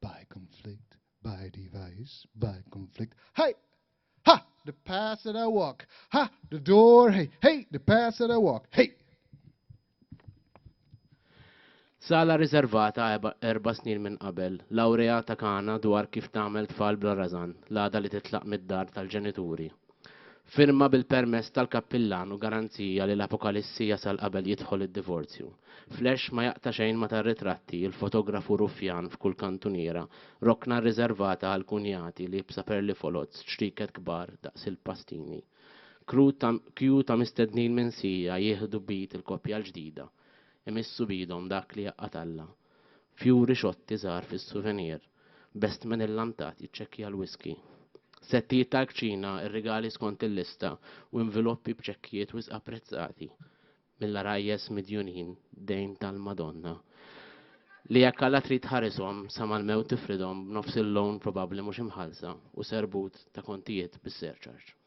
By conflict, by device, by conflict. Hey! Ha! The path that I walk. Ha! The door. Hey! Hey! The path that I walk. Hey! Sala riservata erba' snin minn qabel, lawrea ta' Kana dwar kif tagħmel tfal bla rażan, l-għada li titlaq mid-dar tal-ġenituri, Firma bil-permess tal-kappillan u garanzija li l-apokalissi jasal qabel jidħol id-divorzju. Flash ma jaqta' xejn ma' tar-ritratti, il-fotografu ruffjan f'kull kantuniera, rokna rriżervata għall-kunjati liebsa perli foloz, ċrieket kbar daqs il-pastini. Crew ta' queue ta' mistednin minsija jieħdu b'id il-koppja l-ġdida, imissu b'idhom dak li jaqgħad Alla. Fjuri xotti żgħar fis-suvenir, best minn illantat jiċċekkja l-whiskey. Settijiet tal-kċina, ir-rigali skont il-lista, u inviloppi b'ċekkijiet wisq apprezzati mill-għarajjes midjunin dejn tal-Madonna li jekk Alla trid tħarishom sa mal-mewt tifridhom b'nofs il-loan probabbli mhux imħallsa u serbut ta' kontijiet bis-surcharge.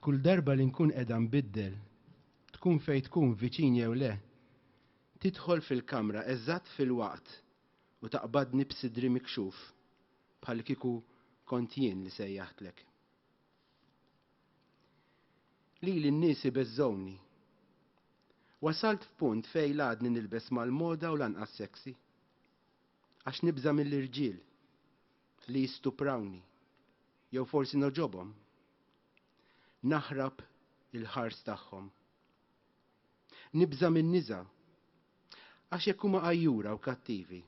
Kull darba li nkun qiegħda nbiddel, tkun fejn tkun viċin jew le, tidħol fil-kamra eżatt filwaqt u taqbadni b'sidri mikxuf bħallikieku kont jien li sejjaħtlek. Lili n-nies ibeżżgħuni. Wasalt f'punt fejn la għadni nilbes mal-moda u lanqas sexy. Għax nibża' mill-irġiel. Li jistuprawni. Jew forsi nogħġobhom? Naħrab il-ħars tagħhom. Nibża' min-niża'. Għax jekk huma għajjura u kattivi.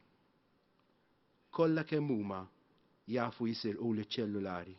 Kollha kemm huma jafu jisirquli ċ-ċellulari.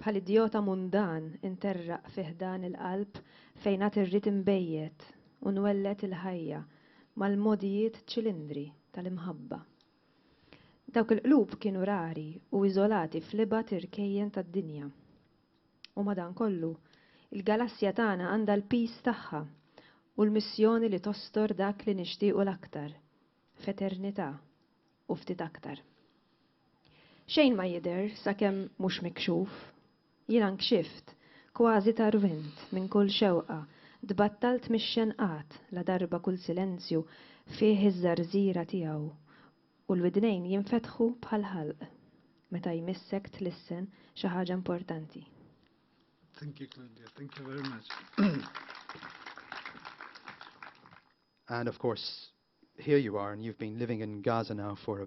Bħal idjota mundan interraq fi ħdan il-qalb fejn għad irrid inbejjet u nwelled il-ħajja mal-mogħdijiet ċilindri tal-imħabba. Dawk il-qlub kienu rari u iżolati fl-ibgħad irkejjen tad-dinja. U madankollu, il-galassja tagħna għandha l-piż tagħha u l-missjoni li tostor dak li nixtiequ l-aktar f'eternità u ftit aktar. Xejn ma jidher sakemm mhux mikxuf. Jiena nkxift, kważi tarwint, minn kull xewqa, tbattalt mix-xenqat ladarba kull silenzju fih iż-żarżiera tiegħu u l-widnejn jinfetħu bħall-ħalq meta jmissek tlissen xi ħaġa importanti. Thank you Claudia, thank you very much. And of course here you are and you've been living in Gaza now for a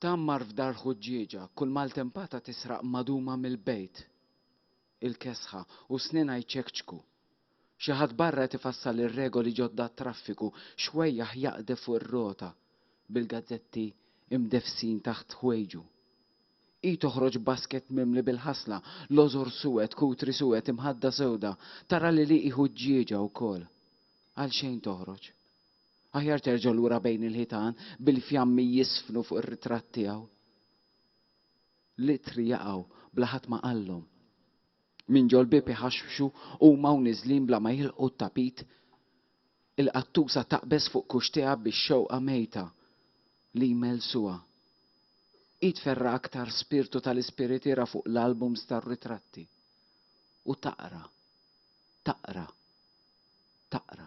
Tgħammar f'dar ħuġġieġa, kull maltempata tisraq maduma mill-bejt. Il-kesħa u s-snien jċekċku. Xi ħadd barra qed ifassal ir-regoli ġodda għat-traffiku, xwejjaħ jaqdef fuq ir-rota, bil-gazzetti imdeffsin taħt ħwejġu. Hi toħroġ baskett mimli bil-ħasla, lożor suwed, kutri suwed, imħadda sewda, tara li hi ħuġġieġa wkoll. Għalxejn toħroġ. Aħjar terġa' lura bejn il-ħitan bil-fjammi jiżfnu fuq ir-ritratt tiegħu. L-ittri jaqgħu bla ħadd ma qallhom. Minn ġol-bieb iħaxħxu huma u niżlin bla ma jilħqu t-tapit. Il-qattusa taqbeż fuq kuxtiha bix-xewqa mejta li jmellsuha. Hi tferra' aktar spirtu tal-ispiritiera fuq l-albums tar-ritratti. U taqra. Taqra. Taqra.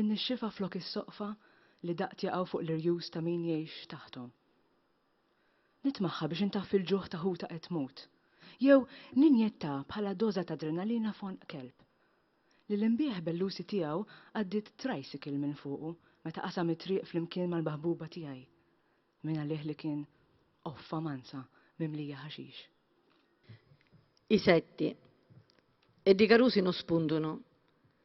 In-nixxifa flok is-soqfa li daqt jaqgħu fuq l-irjus ta' min jgħix taħthom. Nitmagħha biex intaffi l-ġuħ ta' ħuta qed tmut, jew ninjettha bħala doża ta' adrenalina f'għonq kelb, li l-inbieħ bellusi tiegħu għaddiet tricycle minn fuqu meta qasam it-triq flimkien mal-maħbuba tiegħi, mingħalih li kien qoffa mansa mimlija ħaxix. Isetti. E di carusi no spuntuno.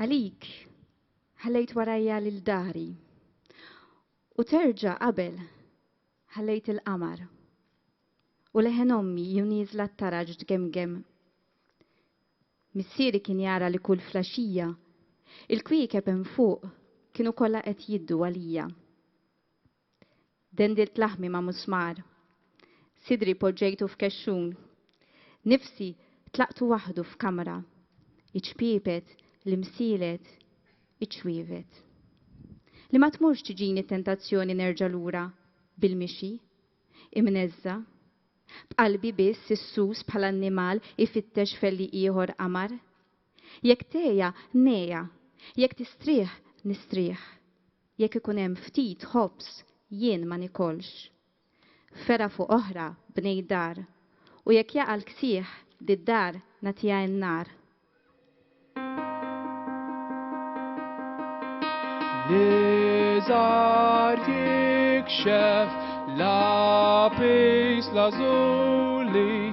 Għalik ħallejt warajja lil dahri. U terġa' qabel ħallejt il-qamar. U leħen ommi ju nieżla t-taraġ tgemgem. Missieri kien jara li kull flaxija il-kwiekeb hemm fuq kienu kollha qed jiddu għalija. Dendilt laħmi ma' musmar. Sidri poġġejtu f'kexxun. Nifsi tlaqtu waħdu f'kamra. Iċpiepet, l-imsielet, iċ-ċwievet. Li ma tmurx tiġini t-tentazzjoni nerġa' lura bil-mixi, imneżża'. B'qalbi biss issus bħal annimal ifittex f'għelliq ieħor qamar. Jekk tgħeja, ngħeja. Jekk tistrieħ, nistrieħ. Jekk ikun hemm ftit ħobż, jien ma nikolx. Fergħa fuq oħra, bnejt dar. U jekk jaqa' l-ksieħ, did-dar nagħtiha in-nar. L-iżgħar jikxef lapis lazuli.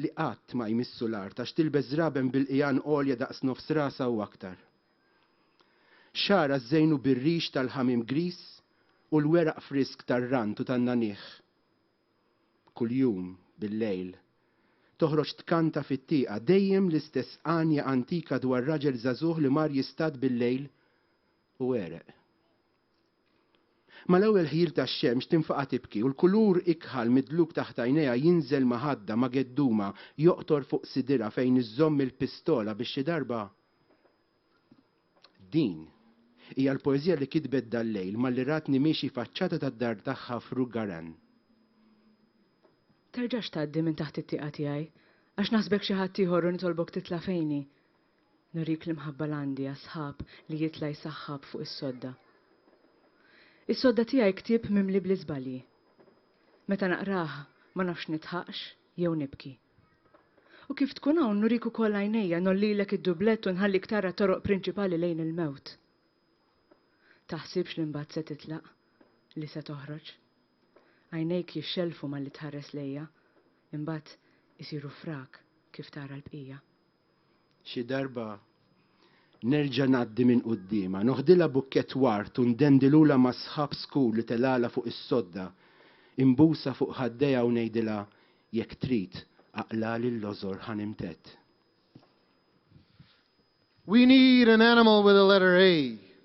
li qatt ma jmissu l-art għax tilbes żraben bil-qigħan għolja daqs nofs rasha u aktar. Xagħarha żżejnu bir-rix tal-ħamiem griż u l-weraq frisk tar-rant u tan-nagħniegħ. Kuljum, bil-lejl, toħroġ tkanta fit-tieqa dejjem l-istess għanja antika dwar raġel żagħżugħ li mar jistad bil-lejl u għereq. Mal-ewwel ħjil tax-xemx tinfaqa' tibki u l-kulur ikħal midluk taħt għajnejha jinżel maħadda, magedduma, joqtor fuq sidirha fejn iżżomm il-pistola biex xi darba Din hija l-poeżija li kitbet dal-lejl malli ratni miexi faċċata tad-dar tagħha f'Rue Garan. Terġax tgħaddi minn taħt it-tieqa tiegħi, għax naħsbek xi ħaddieħor u nitolbok titla' fejni. Nurik l-imħabba l-għandi għas-sħab li jitla' jsaħħab fuq is-sodda. Is-sodda tiegħi ktieb mimli bl-iżbalji. Meta naqrah ma nafx nidħaqx jew nibki. U kif tkun hawn nurik ukoll għajnejja, ngħollilek id-dublett u nħallik tara t-toroq prinċipali lejn il-mewt. Taħsibx li mbagħad se titlaq, li se toħroġ. Għajnejk jixxellfu malli tħares lejja, imbagħad isiru frak kif tara l-bqija. Xi darba nerġa' ngħaddi minn quddiemha, noħdilha bukkett ward u ndendilulha mas-sħab skur li telgħalha fuq is-sodda, inbusha fuq ħaddejha u ngħidilha, Jekk trid, aqlagħli l-lożor ħa nimtedd. We need an animal with the letter A.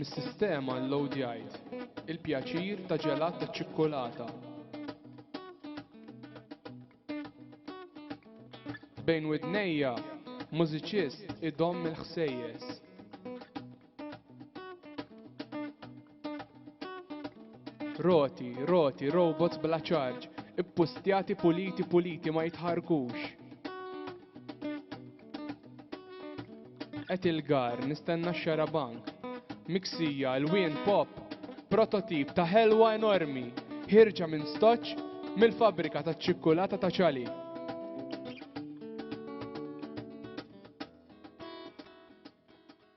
Mis-sistema llowdjajt il-pjaċir ta' ġelat taċ-ċikkulata. Bejn widnejja, mużiċist idomm il-ħsejjes. Roti, roti, robots bla ċarġ, ippustjati puliti puliti ma jitħarkux. Et il-gar, nistenna x-xarabank. Miksija, l-wien pop, prototip ta' ħelwa enormi, ħirġa minn stoċ mill-fabrika ta' ċikkulata ta' ċali.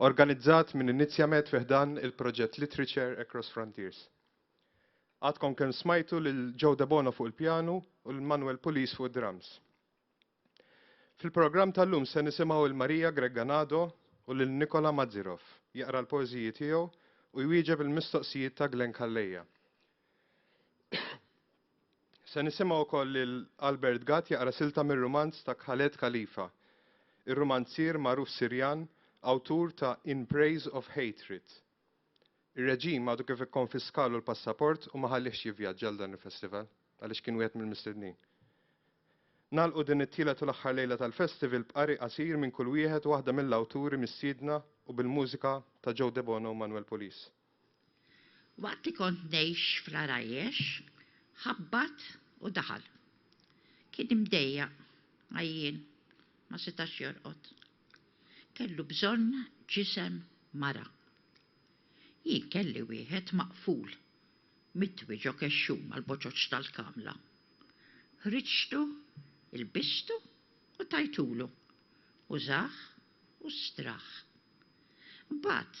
organizzat minn Inizjamed fi ħdan il-proġett Literature Across Frontiers. Għadkom kemm smajtu lil Joe Debono fuq il-pjanu u lil Manuel Pulis fuq id-drums. Fil-programm tal-lum se nisimgħu lil Maria Gregganado u lil Nikola Mazirov jaqra l-poeżiji tiegħu u jwieġeb il-mistoqsijiet ta' Glenn Calleja. Se nisimgħu wkoll lil Albert Gatt jaqra silta mir-rumanz ta' Khaled Khalifa, ir-rumanzier magħruf Sirjan awtur ta' In Praise of Hatred. Ir-reġim għadu kif ikkonfiskalu l-passaport u ma ħallihx jivvjaġġa għal dan il-festival għaliex kien wieħed mill-mistednin. Nagħlqu din it-tielet u l-aħħar lejla tal-festival b'qari qasir minn kull wieħed u waħda mill-awturi mistiedna u bil-mużika ta' Joe Debono u Manuel Pulis. Waqt li kont ngħix fl-għarajjex, ħabbat u daħal. Kien imdejjaq, għajjien, ma setax jorqod. Kellu bżonn ġisem mara. Jien kelli wieħed maqful, mitwi ġo kexxun mal-boċoċ tal-kamla. Ħriġtu, ilbistu u tajtulu. Użah u straħ. Imbagħad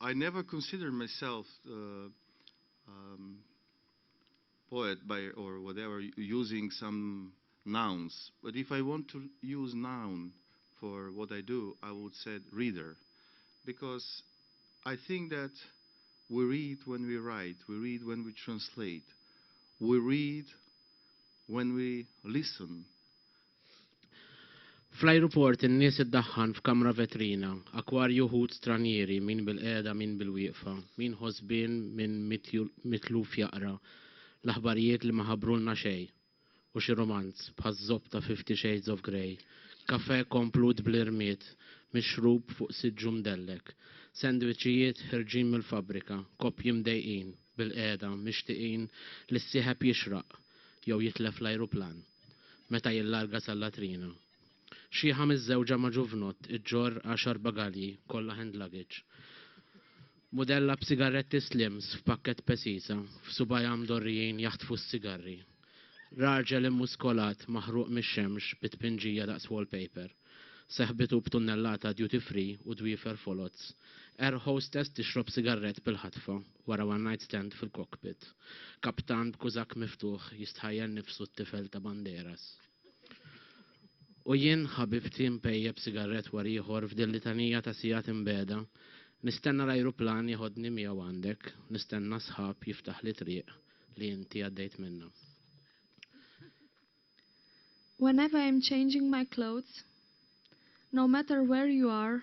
I never considered myself poet by or whatever using some nouns but if I want to use noun for what I do I would said reader because I think that we read when we write, we read when we translate, we read when we listen Fl-ajruport in-nies iddaħħan f'kamra vetrina, akwarju ħut stranjieri, min bilqiegħda min bilwieqfa, min ħosbien min mitluf jaqra l-aħbarijiet li ma ħabbrulna xejn u xi rumanz, bħaż-żopp ta' Fifty Shades of Grey, kafè komplut bl-irmied mixrub fuq siġġu mdellek, sandwiċijiet ħerġin mill-fabbrika, koppji mdejqin. bilqiegħda mixtieqin li s-sieħeb jixraq jew jitlef l-ajruplan meta jillarga sal-latrina. Xiħa miżżewġa ma' ġuvnott iġġorr għaxar bagalji, kollha hand luggage, mudella b'sigarretti slims f'pakkett pesisa, f'subajha mdorrijin jaħtfu s-sigarri. Raġel immuskolat maħruq mix-xemx bi tpinġija daqs wallpaper, seħbitu b'tunnellata duty free u dwiefer foloz, air hostess tixrob sigarrett bil-ħatfa. wara one night stand fil-cockpit, kaptan b'kużakk miftuħ jistħajjel nifsu t-tifel ta' banderas. U jien, ħabibti, mpejjep sigarrett wara ieħor f'din litanija ta' sigħat imbegħda, nistenna l-ajruplan jeħodni miegħu għandek, nistenna sħab jiftaħli triq li inti għaddejt minnha. Whenever I'm changing my clothes, no matter where you are,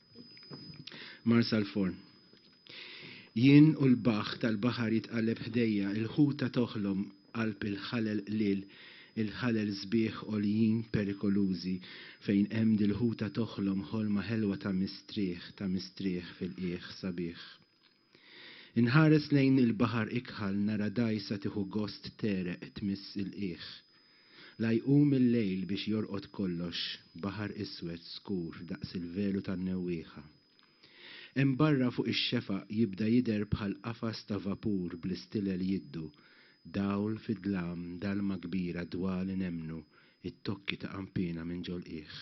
Mar sal-forn. Jien u l-baħħ tal-baħar jitqalleb ħdejja, il-ħuta toħlom qalb il-ħalel qliel, il-ħalel sbieħ għoljin perikolużi, fejn hemm dil-ħuta toħlom ħolma ħelwa ta' mistrieħ, ta' mistrieħ fil-qiegħ sabiħ. Inħares lejn il-baħar ikħal nara dgħajsa tieħu gost tegħreq tmiss il-qiegħ. La jqum il-lejl biex jorqod kollox, baħar iswed skur daqs il-velu tan-newwieħa. Hemm barra fuq ix-xefaq jibda jidher bħal qafas ta' vapur bl-istilel jiddu, dawl fid-dlam dalma kbira dwali nemmnu t-tokki ta' qanpiena minn ġol-qiegħ.